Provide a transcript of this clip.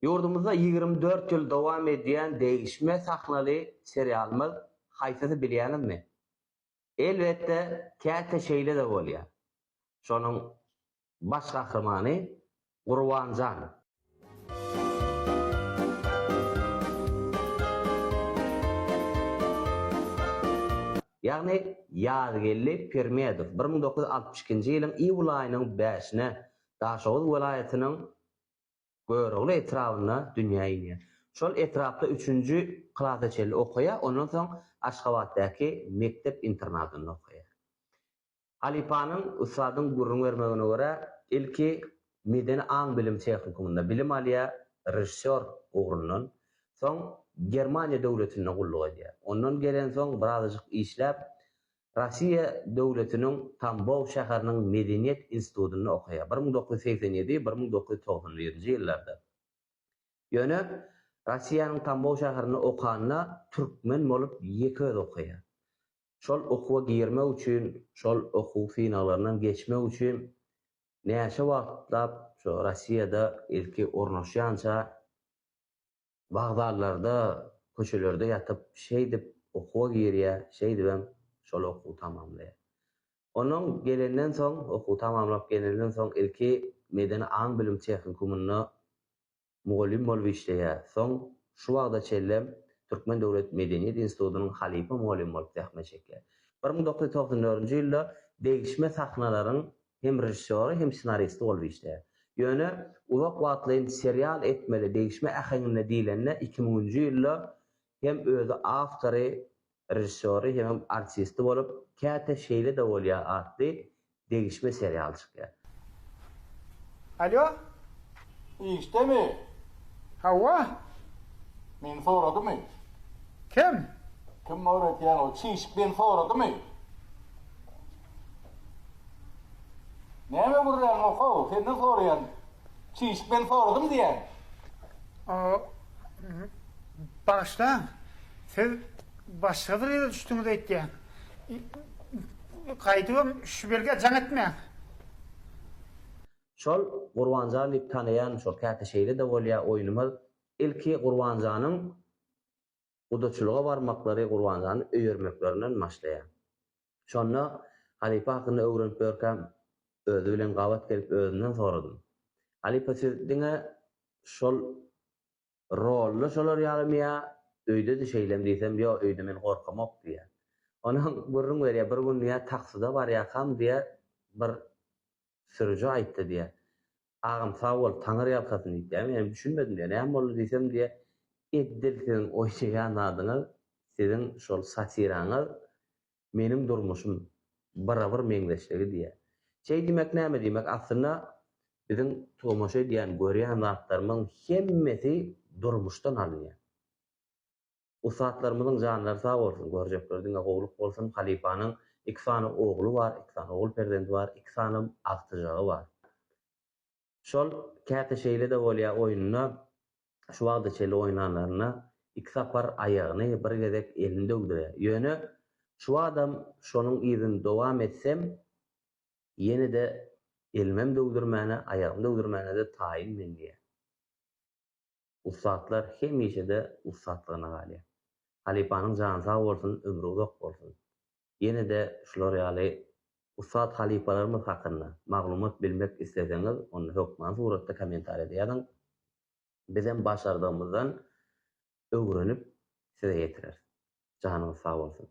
Ýurdumyzda ýigrimi dört ýyl dowam edýän degişme sahnaly serialymyz haýsysy bilýäňizmi? Elbetde, käte şeýle-de bolýar. Şonuň baş gahrymany Gurbanjan. Ýagny Ýazgeldi Pirmedow bir müň dokuz ýüz altmyş ikinji ýylyň iýul aýynyň bäşine Daşoguz welaýatynyň Görogly etrabynda dünýä inýär. Şol etrapda üçünji klasa çenli okaýar, ondan soň Aşgabatdaky mekdep-internatynda okaýar. Halypanyň, ussadyň gürrüň bermegine görä, ilki Medeni aň-bilim tehnikumynda bilim alýar, režissýor ugrundan, soň Germaniýa döwletinde gulluk edýär. Ondan gelensoň birazajyk işläp, Russiýa döwletiniň Tambow şäheriniň medeniýet institutynda okaýar, bir müň dokuz ýüz segsen ýedi, bir müň dokuz ýüz togsan birinji ýyllarda. Ýöne Russiýanyň Tambow şäherinde okanda türkmen bolup ýeke özi okaýar. Şol okuwa girmek üçin, şol okuw synaglaryndan geçmek üçin näçe wagtlap şu Russiýada ilki ornaşýança, Wokzallarda, köçelerde ýatyp, şeýdip okuwa girýär, şeýdibem şol okuwy tamamlaýar. Onnoň gelenden soň, okuwy tamamlap gelenden soň ilki Medeni aň-bilim tehnikumynda mugallym bolup işleýär. Soň şu wagta çenlem Türkmen döwlet medeniýet institutynyň halypa mugallymy bolup zähmet çekýär. Bir müň dokuz ýüz togsan dördünji ýylda degişme sahnalaryň hem režissýory, hem ssenaristi bolup işleýär. Ýöne uzak wagtlaýyn serial etmeli degişme äheňinde diýlende iki müňünji ýylda hem özi awtory, režissýory hemem artisti bolup Käte şeýle-de bolýar atly degişme serial çykýar. Alýo! Işdemi? Hawa! Meni soradymy? Kim? Kim öwretýän ol çişik meni soradymy? Näme gürrän gohaw, senden soraýan. Çişik men soradym diýen. O, bagyşlaň, siz başga bir ýere düşdüňiz aýtýan. Gaýdybam şu belgä jaň etmäň. Şol Gurbanjan diýip tanaýan şol käte şeýle-de bolýa oýnumyz ilki Gurbanjanyň gudaçylyga barmaklary Gurbannazany öýermeklerinden başlaýar. Şonda halypa hakynda öwrenip ýörkäm, özi bilen gabat gelip özünden soradym. Halypa siz diňe şol rolda şolar ýalymy ýa öýde-de şeýlemi diýsem, ýo öýde men gorkamok diýýär. Onam gürrüň berýär, bir gün diýýär taksyda barýarkam diýýär bir Sürüji aýtdy diýýä. Agam sag bol, taňyr ýalkasyn diýip diýýä. Menem düşünmedim diýýä. Näme boldy diýsem diýýä, Edil siziň oýnaýan zadyňyz, siziň şol satiraňyz meniň durmuşym bira-bir meňzeşligi diýýä. Şeý diýmek näme diýmek, aslynda biziň tomaşa edýän, görýän zatlarymyzyň hemmesi durmuşdan alynýar. Ussatlarymyzyň janlary sag bolsun görjekler diňe gowluk bolsun halypanyň iki sany ogly bar iki sany ogul perzendi bar iki sanam agtyjagy bar şol käte şeýlede bolýa oýunda şu wagta çeli oýnanlarynda iki sapar aýagyny bir gezek elini döwdürýä ýöne şu watam şonuň yzyny dowam etsem ýenede elimem döwdürmäne aýagym döwdürmänede taýyn men diýýä. Ussatlar hemişe-de ussatlygyna galýar. Halypanyň jany sag bolsun, ömri uzak bolsun. Ýene-de şular ýaly ussat halypalarymyz hakynda maglumat bilmek isleseňiz, onda hökman suratda kommentariýada ýazyň. Bizem başardygymyzdan öwrenip size ýetireris. Janyňyz sag bolsun.